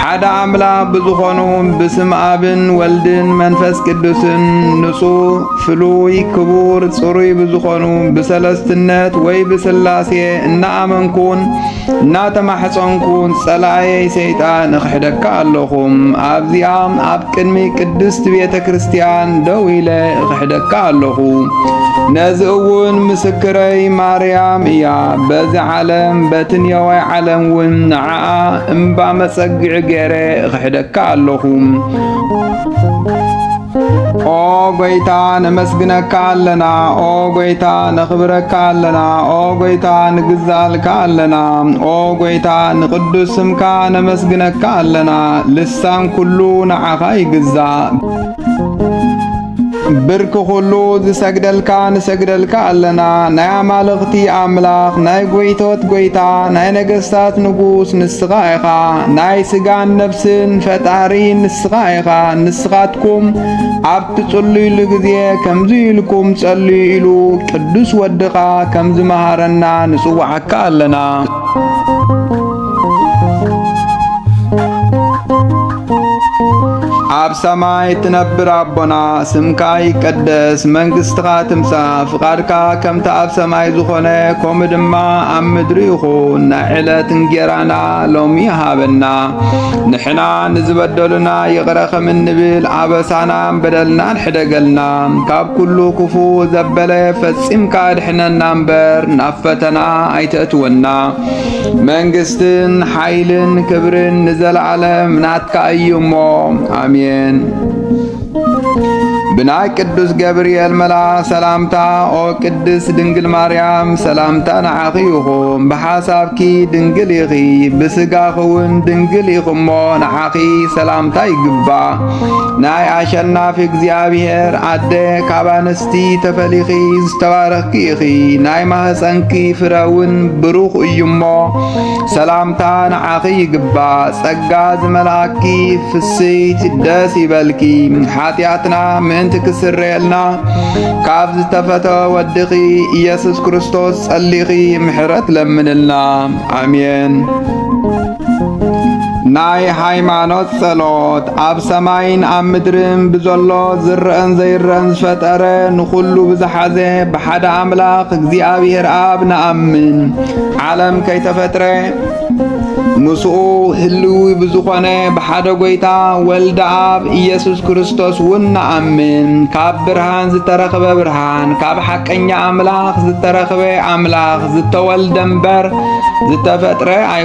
ሓደ ኣምላኽ ብዝኾኑ ብስም ኣብን ወልድን መንፈስ ቅዱስን ንጹህ ፍሉይ ክቡር ጽሩይ ብዝኾኑ ብሰለስትነት ወይ ብስላሴ እናኣመንኩን እናተማሕፀንኩን ጸላእየይ ሰይጣን እኽሕደካ ኣለኹም። ኣብዚኣ ኣብ ቅድሚ ቅድስት ቤተ ክርስቲያን ደው ኢለ እኽሕደካ ኣለኹ። ነዚ እውን ምስክረይ ማርያም እያ። በዚ ዓለም በትንየዋይ ዓለም እውን ንዓ እምባ መጸግዒ ገይረ እኽሕደካ ኣለኹ። ኦ ጎይታ ነመስግነካ ኣለና ኦ ጎይታ ነኽብረካ ኣለና ኦ ጎይታ ንግዛልካ ኣለና ኦ ጎይታ ንቅዱስ ስምካ ነመስግነካ ኣለና ልሳን ኩሉ ንዓኻ ይግዛእ ብርኪ ኩሉ ዝሰግደልካ ንሰግደልካ ኣለና ናይ ኣማልኽቲ ኣምላኽ ናይ ጎይቶት ጎይታ ናይ ነገስታት ንጉስ ንስኻ ኢኻ ናይ ስጋን ነፍስን ፈጣሪ ንስኻ ኢኻ ንስኻትኩም ኣብ ትጽልዩሉ ግዜ ከምዚ ኢልኩም ጸልዩ ኢሉ ቅዱስ ወድኻ ከም ዝመሃረና ንጽውዓካ ኣለና ኣብ ሰማይ እትነብር ኣቦና ስምካ ይቀደስ፣ መንግስትኻ ትምጻእ፣ ፍቓድካ ከምቲ ኣብ ሰማይ ዝኾነ ከምኡ ድማ ኣብ ምድሪ ይኹን። ናይ ዕለት እንጌራና ሎሚ ሃበና፣ ንሕና ንዝበደሉና ይቕረ ከም እንብል ኣበሳናን በደልናን ሕደገልና፣ ካብ ኩሉ ክፉ ዘበለ ፈጺምካ ኣድሕነና እምበር ናብ ፈተና ኣይተእትወና መንግስትን ሓይልን ክብርን ንዘለዓለም ናትካ እዩ እሞ ኣሜን። ብናይ ቅዱስ ገብርኤል መላ ሰላምታ ኦ ቅድስት ድንግል ማርያም ሰላምታ ንዓኺ ይኹን። ብሓሳብኪ ድንግል ኢኺ፣ ብስጋኺ እውን ድንግል ኢኺ እሞ ንዓኺ ሰላምታ ይግባ። ናይ ኣሸናፊ እግዚኣብሔር ኣደ ካብ እቲ ተፈሊኺ ዝተባረኽኪ ኢኺ ናይ ማህፀንኪ ፍረ እውን ብሩኽ እዩ እሞ ሰላምታ ንዓኺ ይግባእ ጸጋ ዝመልኣኪ ፍስይቲ ደስ ይበልኪ ሓጢኣትና ምእንቲ ክስረየልና ካብ ዝተፈተ ወድኺ ኢየሱስ ክርስቶስ ጸሊኺ ምሕረት ለምንልና ኣሜን ናይ ሃይማኖት ጸሎት ኣብ ሰማይን ኣብ ምድርን ብዘሎ ዝረአን ዘይረአን ዝፈጠረ ንኹሉ ብዝሓዘ ብሓደ ኣምላኽ እግዚኣብሔር ኣብ ንኣምን ዓለም ከይተፈጥረ ምስኡ ህልዊ ብዝኾነ ብሓደ ጐይታ ወልደ ኣብ ኢየሱስ ክርስቶስ እውን ንኣምን ካብ ብርሃን ዝተረኽበ ብርሃን ካብ ሓቀኛ ኣምላኽ ዝተረኽበ ኣምላኽ ዝተወልደ እምበር ዝተፈጥረ ኣይ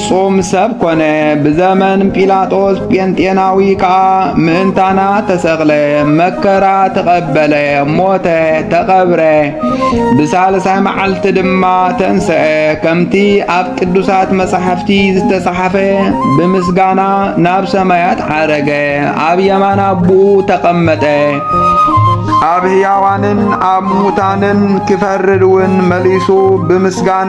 ፍጹም ሰብ ኮነ። ብዘመን ጲላጦስ ጴንጤናዊ ከኣ ምእንታና ተሰቕለ፣ መከራ ተቐበለ፣ ሞተ፣ ተቐብረ፣ ብሳልሳይ መዓልቲ ድማ ተንስአ። ከምቲ ኣብ ቅዱሳት መጻሕፍቲ ዝተጻሕፈ ብምስጋና ናብ ሰማያት ዓረገ፣ ኣብ የማን ኣቦኡ ተቐመጠ። ኣብ ሕያዋንን ኣብ ሙታንን ክፈርድ እውን መሊሱ ብምስጋና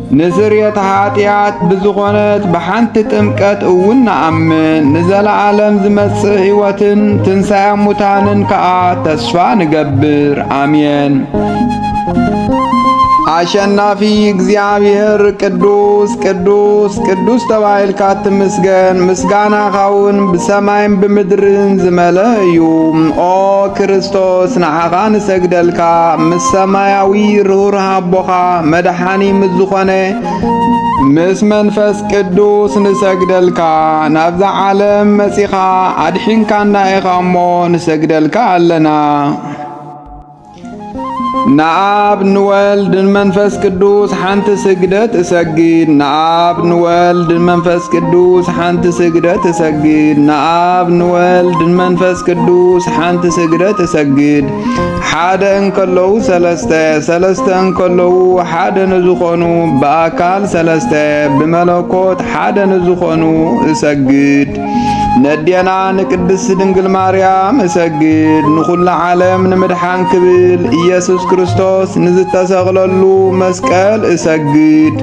ንስርየት ኃጢኣት ብዝኾነት ብሓንቲ ጥምቀት እውን ንኣምን፣ ንዘለዓለም ዝመጽእ ሕይወትን ትንሣኤ ሙታንን ከኣ ተስፋ ንገብር። ኣሜን። አሸናፊ እግዚአብሔር ቅዱስ ቅዱስ ቅዱስ ተባይልካ ትምስገን ምስጋናኻውን ብሰማይን ብምድርን ዝመለ እዩ። ኦ ክርስቶስ ንዓኻ ንሰግደልካ ምስ ሰማያዊ ርሁር ሃቦኻ መድሓ ዳኒ ምስ ዝኾነ ምስ መንፈስ ቅዱስ ንሰግደልካ ናብዛ ዓለም መጺኻ ኣድሒንካና ኢኻ እሞ ንሰግደልካ ኣለና። ንኣብ ንወልድ ንመንፈስ ቅዱስ ሓንቲ ስግደት እሰግድ ንኣብ ንወልድ ንመንፈስ ቅዱስ ሓንቲ ስግደት እሰግድ ንኣብ ንወልድ ንመንፈስ ቅዱስ ሓንቲ ስግደት እሰግድ ሓደ እንከለዉ ሰለስተ ሰለስተ እንከለዉ ሓደ ንዝኾኑ ብኣካል ሰለስተ ብመለኮት ሓደ ንዝኾኑ እሰግድ ነዴና ንቅድስት ድንግል ማርያም እሰግድ ንኹሉ ዓለም ንምድሓን ክብል ኢየሱስ ክርስቶስ ንዝተሰቕለሉ መስቀል እሰግድ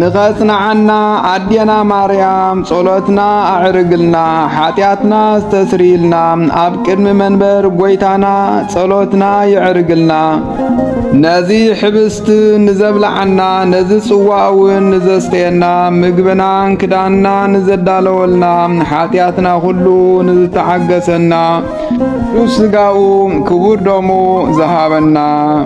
ንኸጽንዓና ኣዴና ማርያም ጸሎትና ኣዕርግልና ሓጢኣትና ዝተስርይልና ኣብ ቅድሚ መንበር ጐይታና ጸሎትና ይዕርግልና። ነዚ ሕብስት ንዘብልዓና ነዚ ጽዋእውን ንዘስተየና ምግብናን ክዳንና ንዘዳለወልና ሓጢኣትና ዅሉ ንዝተዓገሰና ቅዱስ ሥጋኡ ክቡር ደሙ ዝሃበና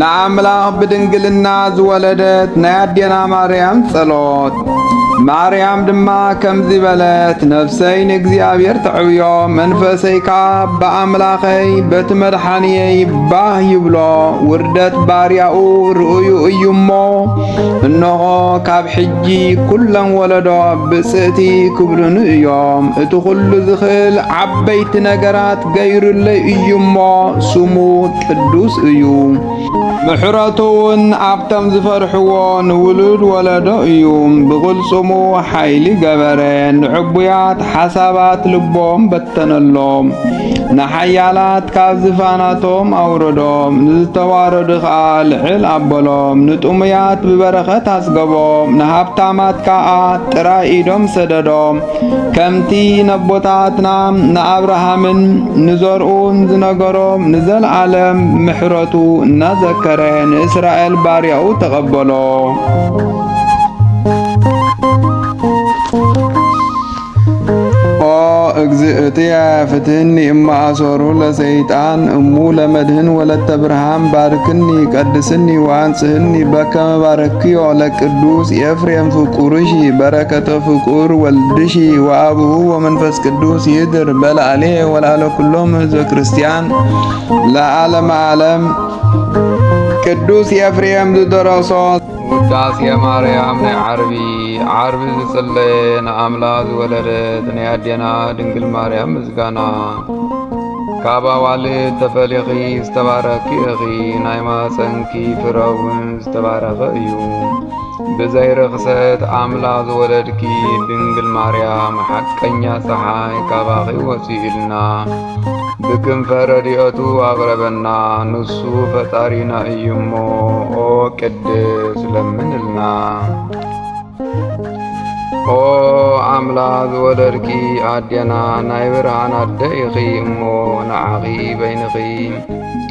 ንኣምላኽ ብድንግልና ዝወለደት ናይ ኣዴና ማርያም ጸሎት። ማርያም ድማ ከምዚ በለት፣ ነፍሰይ ንእግዚኣብሔር ተዕብዮ፣ መንፈሰይ ከኣ ብኣምላኸይ በቲ መድሓንየይ ባህ ይብሎ፣ ውርደት ባርያኡ ርእዩ እዩ እሞ፣ እንሆ ካብ ሕጂ ኵለን ወለዶ ብጽእቲ ክብሉኒ እዮም። እቲ ዅሉ ዝኽእል ዓበይቲ ነገራት ገይሩለይ እዩ እሞ ስሙ ቅዱስ እዩ። ምሕረቱ እውን ኣብቶም ዝፈርሕዎ ንውሉድ ወለዶ እዩ። ብቕልጽሙ ሓይሊ ገበረ፣ ንዕቡያት ሓሳባት ልቦም በተነሎም፣ ንሓያላት ካብ ዝፋናቶም ኣውረዶም፣ ንዝተዋረዱ ኸኣ ልዕል ኣበሎም፣ ንጥሙያት ብበረኸት ኣጽገቦም፣ ንሃብታማት ከኣ ጥራይ ኢዶም ሰደዶም። ከምቲ ነቦታትና ንኣብርሃምን ንዘርኡን ዝነገሮም ንዘለዓለም ምሕረቱ እናዘከረ ንእስራኤል ባርያኡ ተቐበሎ። ኦ እግዝእትየ ፍትህኒ እማ አሶሩ ለሰይጣን እሙ ለመድህን ወለተ ብርሃን ባርክኒ ቀድስኒ ወአንጽህኒ በከመ ባረክዮ ለቅዱስ ኤፍሬም ፍቁርሺ በረከቶ ፍቁር ወልድኪ ወአቡሁ ወመንፈስ ቅዱስ ይድር በላዕሌ ወላዕለ ኩሎም ህዝበ ክርስቲያን ለዓለም ዓለም። ቅዱስ ኤፍሬም ዝደረሶ ውዳሴ ማርያም ናይ ዓርቢ ዓርቢ ዝጽለየ ንኣምላኽ ዝወለደት ናይ ኣዴና ድንግል ማርያም ምስጋና ካብ ኣዋልድ ተፈሊኺ ዝተባረኪ ኢኺ ናይ ማኅፀንኪ ፍረውን ዝተባረኸ እዩ። ብዘይ ርኽሰት ኣምላኽ ዝወለድኪ ድንግል ማርያም ሓቀኛ ፀሓይ ካባኺ ወፂኡልና ብክንፈ ረድኤቱ ኣቕረበና ንሱ ፈጣሪና እዩ እሞ ኦ ቅድስ ለምንልና ኦ ኣምላኽ ዝወለድኪ ኣዴና ናይ ብርሃን ኣደ ኢኺ እሞ ንዓኺ በይንኺ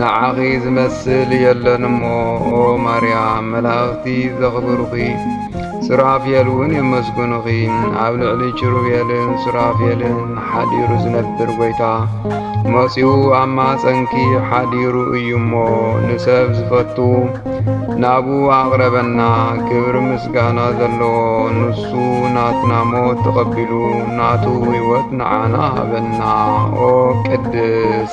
ንዓኺ ዝመስል የለን እሞ ኦ ማርያም መላእኽቲ ዘኽብሩኺ ሱራፌል እውን የመስግኑኺ። ኣብ ልዕሊ ኪሩቤልን ሱራፌልን ሓዲሩ ዝነብር ጐይታ መጺኡ ኣብ ማፀንኪ ሓዲሩ እዩ እሞ ንሰብ ዝፈቱ ናብኡ ኣቕረበና። ክብሪ ምስጋና ዘለዎ ንሱ ናትና ሞት ተቐቢሉ ናቱ ሕይወት ንዓና ሃበና። ኦ ቅድስ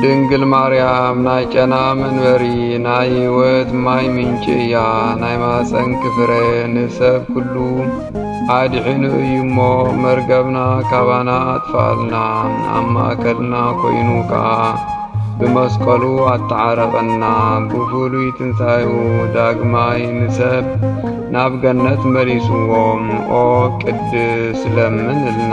ድንግል ማርያም ናይ ጨና መንበሪ ናይ ሕይወት ማይ ምንጪ እያ። ናይ ማፀንኪ ፍረ ንሰብ ኩሉ ኣድሒኑ እዩ እሞ መርገብና ካባና ኣጥፍኣልና ኣብ ማእከልና ኮይኑ ከዓ ብመስቀሉ ኣተዓረቐና ብፍሉይ ትንሣኤኡ ዳግማይ ንሰብ ናብ ገነት መሊስዎም ኦ ቅድስ ለምንልና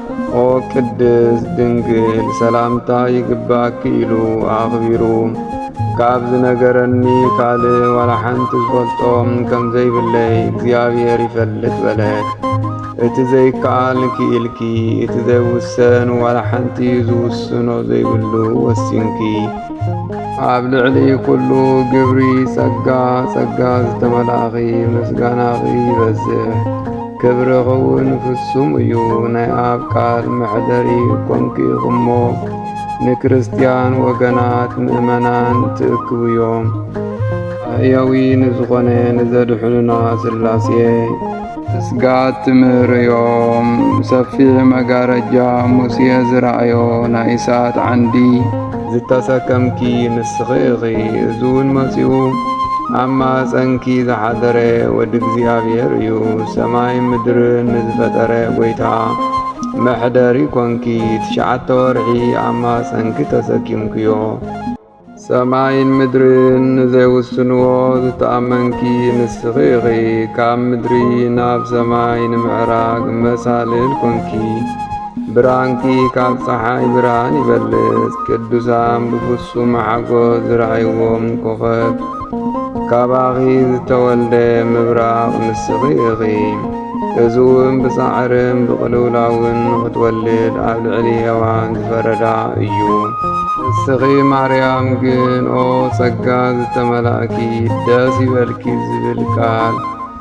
ኦ ቅድስት ድንግል ሰላምታ ይግባኪ ኢሉ ኣኽቢሩ ካብ ዝነገረኒ ካልእ ዋላ ሓንቲ ዝፈልጦም ከም ዘይብለይ እግዚኣብሔር ይፈልጥ በለ። እቲ ዘይከኣል ክኢልኪ፣ እቲ ዘይውሰን ዋላ ሓንቲ ዝውስኖ ዘይብሉ ወሲንኪ። ኣብ ልዕሊ ኩሉ ግብሪ ጸጋ ጸጋ ዝተመላእኺ ምስጋናኺ ይበዝሕ። ክብሪ ኽውን ፍጹም እዩ ናይ ኣብ ቃል መሕደሪ ኮንኪ እሞ ንክርስትያን ወገናት ምእመናን ትእክቡ እዮም ኣያዊ ንዝኾነ ንዘድሕኑና ስላሴ ስጋት ትምህርዮም ሰፊሕ መጋረጃ ሙሴ ዝረኣዮ ናይ እሳት ዓንዲ ዝተሰከምኪ ንስኺ ኢኺ እዚውን መጺኡ ኣብ ማህጸንኪ ዝሓደረ ወዲ እግዚኣብሔር እዩ ሰማይ ምድርን ንዝፈጠረ ጎይታ መሕደሪ ኮንኪ ትሽዓተ ወርሒ ኣብ ማህጸንኪ ተሰኪምክዮ ሰማይን ምድርን ንዘይውስንዎ ዝተኣመንኪ ንስኺ ኢኺ ካብ ምድሪ ናብ ሰማይ ንምዕራግ መሳልል ኮንኪ ብርሃንኪ ካብ ፀሓይ ብርሃን ይበልፅ ቅዱሳን ብፍጹም ሓጎስ ዝረኣይዎም ኮኸብ ካባኺ ዝተወልደ ምብራቕ ንስኺ ኢኺ እዚ እውን ብጻዕርን ብቕልውላውን ንኽትወልድ ኣብ ልዕሊ ሔዋን ዝፈረዳ እዩ። ንስኺ ማርያም ግን ኦ ጸጋ ዝተመላእኪ ደስ ይበልኪ ዝብል ቃል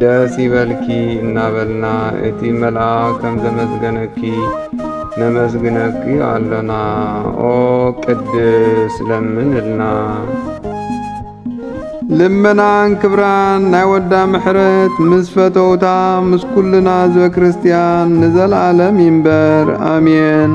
ደስ ይበልኪ እናበልና እቲ መልኣኽ ከም ዘመስገነኪ ነመስግነኪ ኣለና። ኦ ቅድስ ለምንልና። ልመናን ክብራን ናይ ወዳ ምሕረት ምስ ፈተውታ ምስ ኩልና ህዝበ ክርስቲያን ንዘለዓለም ይንበር ኣሜን።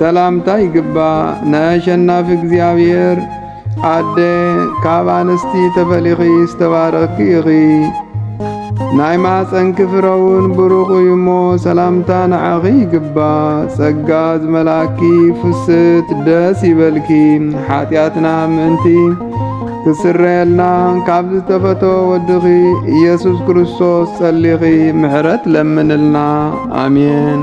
ሰላምታ ይግባእ ናይ ኣሸናፊ እግዚኣብሔር ኣደ ካብ ኣንስቲ ተፈሊኺ ዝተባረኽኪ ኢኺ ናይ ማፀንኪ ፍረውን ብሩኽ እዩ እሞ ሰላምታ ንዓኺ ይግባእ ጸጋ ዝመላእኪ ፍስት ደስ ይበልኪ ሓጢኣትና ምእንቲ ክስረየልና ካብ ዝተፈቶ ወድኺ ኢየሱስ ክርስቶስ ጸሊኺ ምሕረት ለምንልና ኣሜን።